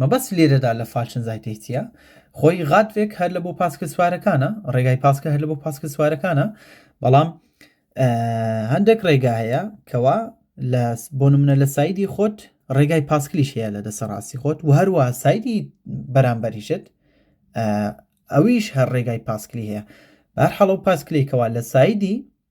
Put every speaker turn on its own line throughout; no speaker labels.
مەبەست لێرەدا لە فالشنزایتێ چیە؟ خۆی غادڤێک هەر لە بۆ پاسکل سوارەکانە ڕێگای پاسکە هەر لە بۆ پاسکل سوارەکانە بەڵام هەندێک ڕێگا هەیە کەوا لە بۆ منە لە سایدی خۆت ڕێگای پاسکلیش هەیە لە دەسە ڕاستی خۆت و هەروە سایدی بەرامبەریشت ئەویش هەر ڕێگای پاسکلی هەیە بەر حەڵە و پاسکلێکەوە لە سایدی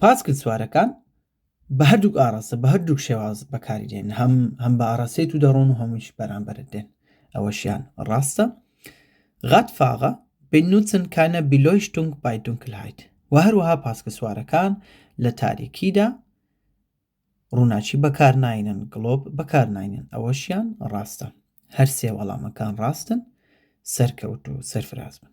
پاسکل سوارەکان بە هەردووک ئاڕاستە بە هەردووک شێواز بەکاری دێن هەم هەم بە ئاڕاستەی تو دەڕۆن و هەمووش بەرامبەرت دێن ئەوەشیان ڕاستە غات فاغە بنوچن کانە بیلۆیشتنگ بای دونکلهایت و هەروەها پاسکە سوارەکان لە تاریکیدا ڕووناچی بەکار ناینن گڵۆب بەکار ناینن ئەوەشیان ڕاستە هەر سێ وەڵامەکان ڕاستن سەرکەوت و سەرفراز بن